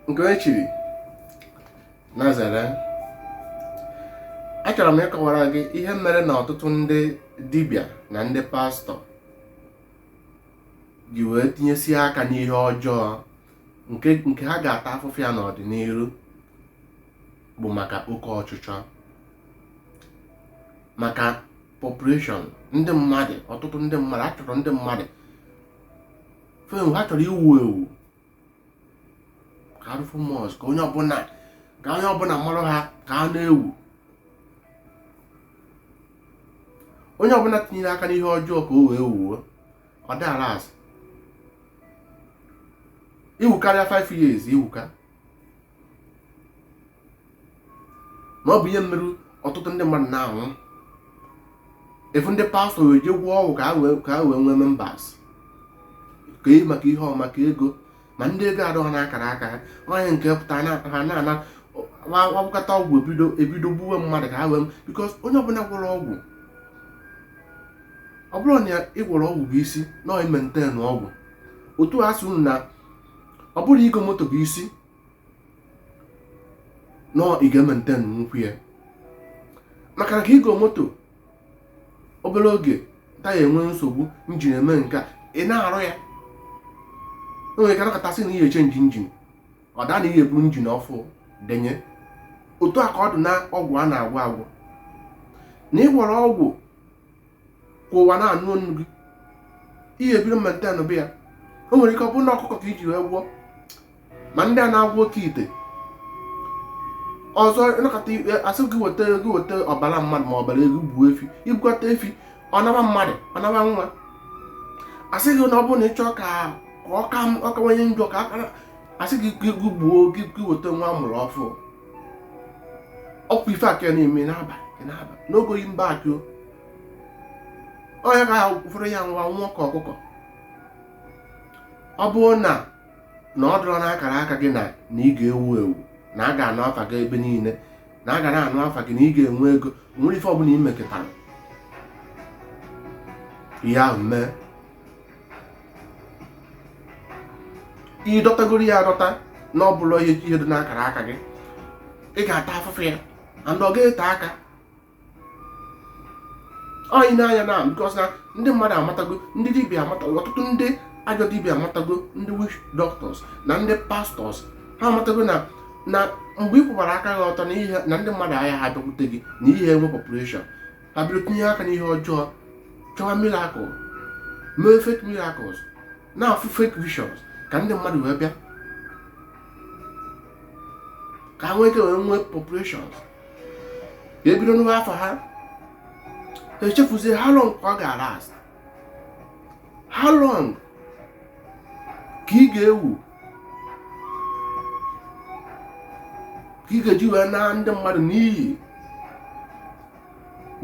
nke onye chiri nazareth achọrọ m ịkọwara gị ihe mere na ọtụtụ ndị dibịa na ndị pastọ ji wee tinyesie aka n'ihe ọjọọ nke ha ga-ata afụfụ ya n'ọdịnihu bụ maka oke ọchịchọ maka population ndị mmadụ ọtụtụ ndị mmadụ ha chọrọ ndị mmadụ fame ha chọrọ iwu ewu ka ha dị famous ka onye ọbụla mara ha ka ha na-ewu onye ọbụla tinyere aka n'ihe ọjọọ ka o wee wuo ọ da alast i wuka 5 years i wuka na ọ bụ ihe mere ọtụtụ ndị mmadụ na-anwụ ị fụ ndị pastọ wee je gwọọ ọgwụ ka ha wee nwee members ka e maka ihe ọ maka ego ma ndị ego adọghọ n'akara aka ha onye nke pụta na- ha na-agwọkata ọgwụ ebido gbuwe mmadụ ka ha wee because onye ọbụla gwọrọ ọgwụ ọ bụrọ na ị gwọrọ ọgwụ bụ isi na ọ imaintain ọgwụ otu a sị unu na ọ bụrọ igo moto bụ isi na ị ga-emaintain nwukwa ya maka na ka igo moto obere oge taya enwe nsogbu engine emee ka ị na-arụ ya o nwere ka ị nọkata sị na ị ya-echange engine ọ daa na ị ya-eburu engine ọfụ denye otu a ka ọ dị na ọgwụ a na-agwọ agwọ na ị gwọrọ ọgwụ ka ụwa na-anụ onu gị ị ya-ebido maintainube ya o nwere ike ọ bụrụ na ọkụkọ ka i ji wee gwọọ ma ndị a na-agwọ oke ite ọzọ ị nọkata asị gị weta ọbara mmadụ ma ọbara ewu gbuo efi i gbukata efi ọ naba mmadụ ọ naba nwa asị gị na ọ bụrụ na ị chọọ ka ọ kawanye njọ ka asị gị gbuo gị weta nwa a mụrụ ọfụ ọ kwa ife a ka na-eme n'abalị n'abalị n'oge oyi mba akị onye ka ha fụrụ ya nwa nwa ka ọkụkọ ọ bụrụ na na ọ dụrọ n'akara aka gị na na ị ga-ewu ewu na a ga-anụ afa gị ebe niile na a ga na-anụ afa gị na ị ga-enwe ego nwere ife ọbụla i mekatara ihe ahụ mee ị dọtagoro ya adọta na ọ bụrọ ihe ihe dị n'akara aka gị ị ga-ata afụfụ ya and ọ ga-ete aka anyị na-anya na because na ndị mmadụ amatago ndị dibịa amatago ọtụtụ ndị ajọ dibịa amatago ndị witch doctors na ndị pastors ha amatago na mgbe ị kwụbara aka gị ọtọ na ihe na ndị mmadụ agaha abịakwute gị na ị ya-enwe population ha bịara tinye aka n'ihe ọjọọ chọwa miracle mee fake miracles na-afụ fake visions ka ndị mmadụ wee bịa ka ha nwee ike wee nwee populations ka e bido nụwa afa ha echefuzie how long ka ọ ga-alast how long ka ị ga-ewu ka ị ga-eji wee naa ndị mmadụ n'iyi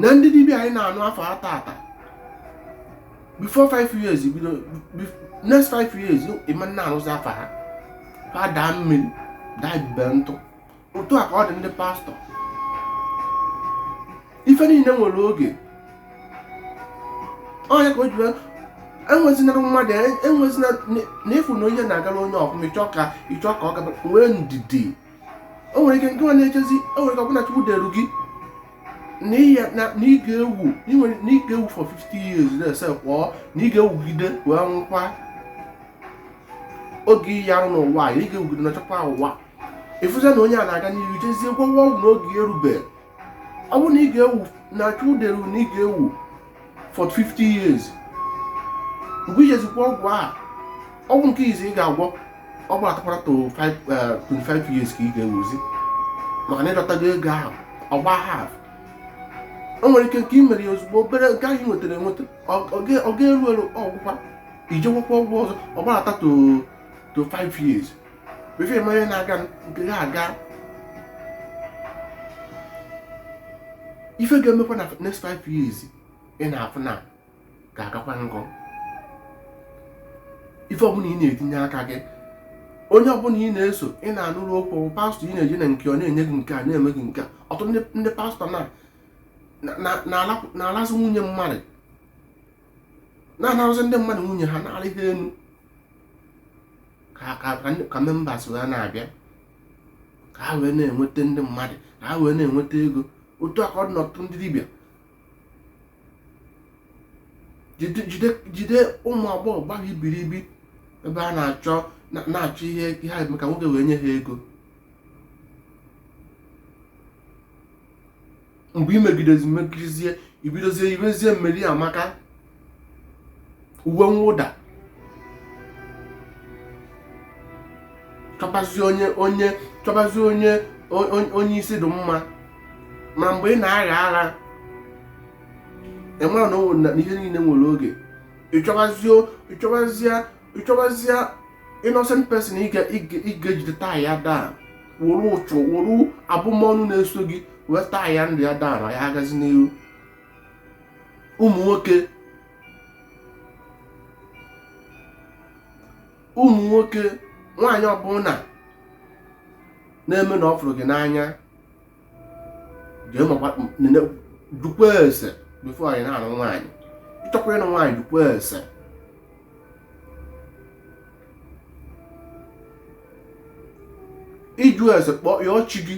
na ndị dibịa anyị na-anụ afa ha taata before five years bido next five years ị ma na-anụzi afa ha ha daa mmiri daa ibube ntụ otu a ka ọ dị ndị pastor ife niile nwere oge onye ka o ji enwezinara mmadụ enwezina na ị fụ na onye na-agara onye ọfụma ị chọọ ka ị chọọ ka ọ gaba nwee ndidi o nwere ike nke nwa na-echezi o nwere ike ọ bụ na chukwu deru gị na ị ga-ewu na ị ga-ewu for 50 years na-ese pụọ na ị ga-ewugide wee nwụkwa oge ị ya-anọ n'ụwa ị ga-ewugide na chọkwa ụwa ị fụzia na onye a na-aga n'ihu jezie gwọwa ọgwụ n'oge erube ọ bụrụ na ị ga-ewu na chukwu deru na ị ga-ewu for 50 years mgbe i jezi gwọ ọgwụ a ọgwụ nke izizi ị ga-agwọ ọ gbadatakwara to 25 years ka ị ga-ewuzi maka na ị dọtago ego ahụ ọ gbaa half o nwere ike nke ị mere ya ozugbo obere nke ahụ ị nwetara enweta ọ ga-eru eru ọ gwụkwa i je gwọkwa ọgwụ ọzọ ọ gbadata to to 5 years before ị ma ihe na-aga nke ya aga ife ga-emekwa na next five years ị na-afụ na ga-agakwa ngọ ife ọbụla ị na-etinye aka gị onye ọbụla ị na-eso ị na-anụrụ okwu pastor ị na-eje na nke ọ na-enye gị nke a na-eme gị nke a ọtụtụ ndị pastor na-alazi nwunye mmadụ na-anarazi ndị mmadụ nwunye ha na-arị ha enu ka members wee na-abịa ka ha wee na-enweta ndị mmadụ ka ha wee na-enweta ego otu a ka ọ dị n'ọtụtụ ndị dibịa jide ụmụ agbọghọ gbara ibiribi ebe a na-achọ na-achọ ihe ha ga-eme ka nwoke wee nye ha ego mgbe i megidezi megidezie i bidozie yibezie mary amaka uwe mwụda chọbazi onye onye chọbazi onye onye isi dị mma ma mgbe ị na-agha ara ị mara na ihe niile nwere oge ị chọbazie ịchọbazie innocent person ị ga-ejide taa ya daa were uchu were abụmọnụ na-eso gị wee taa ya ndụ ya daa na ya agazi n'ihu ụmụ nwoke ụmụ nwoke nwaanyị ọbụla na-eme na ọ fụrụ gị n'anya jee makwa nene jụkwa ese before ị na-anụ nwaanyị ịchọkwa ịnụ nwaanyị jụkwa ese ịjụ ese kpọọ yọọ chi gị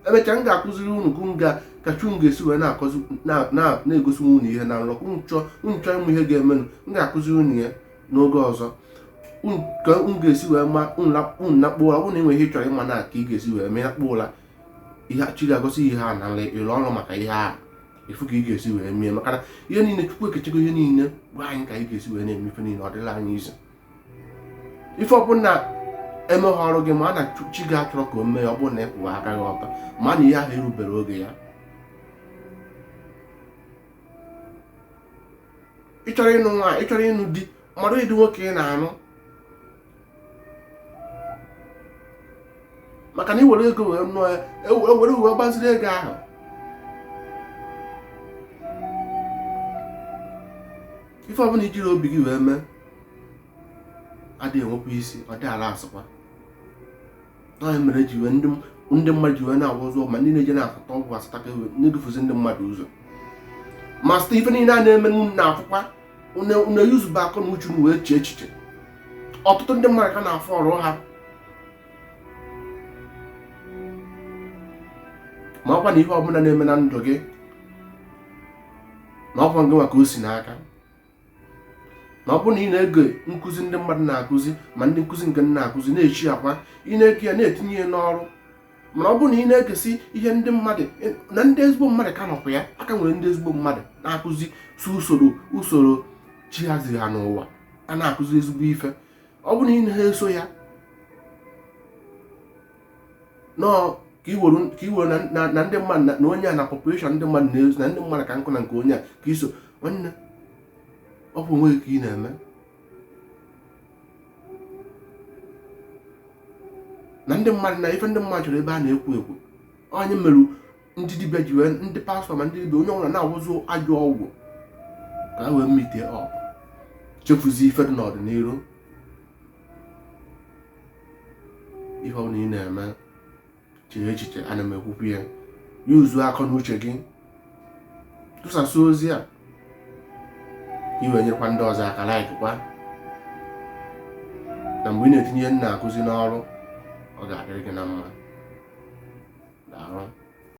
emechaa m ga-akụziri unu ka m ga ka chi unu ga-esi wee na-akọzi na- na- na-egosi unu ihe na nrọ unu chọọ unu chọọ ịma ihe ga-emenụ m ga-akụziri unu ya n'oge ọzọ ka unu ga-esi wee ma unu nakpuo ụra ọ bụrụ na e nwere ihe ị chọrọ ịma na ka ị ga-esi wee mee nakpuo ụra ihe chi ga-egosi ihe a na nla ịrụ ọrụ maka ihe a efu ka ị ga-esi wee mee maka na ihe niile chukwu ekechego ihe niile gwa anyị ka anyị ga-esi wee na-eme ife niile ọ dịla anyị izu ife ọbụla emeghị ọrụ gị maa na chi gị achọrọ ka o mee ọ bụrụ na ị kwụwa aka gị ọtọ ma na ihe ahụ erubere oge ya ịchọrọ ịnụ nwa ịchọrọ ịnụ di mmadụ ịdị nwoke ị na-anụ maka na iwere ego wee nụọ ya ewere uwe gbaziri ego ahụ ife ọbụla ijiri obi gị wee mee adịghị enwekwa isi ọ dị ala asụkwa ọ ya mere ji wee ndị mmadụ ji wee na-agwa ụzọ ma ndị na-eje na-afụta ọgwụ asataka iwe na-edufuzi ndị mmadụ ụzọ ma site ife niile a na-eme na unu na-afụkwa unu eyuzube akọ na uche unu wee chee echiche ọtụtụ ndị mmadụ ka na-afụ ọrụ ha makwa na ihe ọbụla na-eme na ndụ gị na ọkwa gịnwa ka o si n'aka na ọ bụrụ na ị na-ege nkụzi ndị mmadụ na-akụzi ma ndị nkụzi nke na-akụzi na-echi akwa ị na-ege ya na-etinye ya n'ọrụ mana ọ bụrụ na ị na-egesi ihe ndị mmadụ na ndị ezigbo mmadụ ka nọkwa ya a ka nwere ndị ezigbo mmadụ na-akụzi si usoro usoro chi ha ziri ha n'ụwa a na-akụzi ezigbo ife ọ bụrụ na ị na-eso ya nọọ ka iwere na ndị mmadụ na onye a na population ndị mmadụ na-ezu na ndị mmadụ ka nkụ na nke onye a ka iso nwanne ọ bụ onwe gị ka ị na-eme na ndị mmadụ na ife ndị mmadụ chọrọ ebe a na-ekwu ekwu ọ ya mere ndị dibịa ji wee ndị pastọ ma ndị dibịa onye ọbụla na-agwọzi ajọ ọgwụ ka ha wee meet up chefuzie ife dị n'ọdịnihu ihe ọ bụla ị na-eme chee echiche ana m ekwukwu ya yuzuo akọ na uche gị tụsasị ozi a i wee nyekwa ndị ọzọ aka laikkwa na mgbe ị na-etinye ihe m na-akụzi n'ọrụ ọ ga-adịrị gị na mma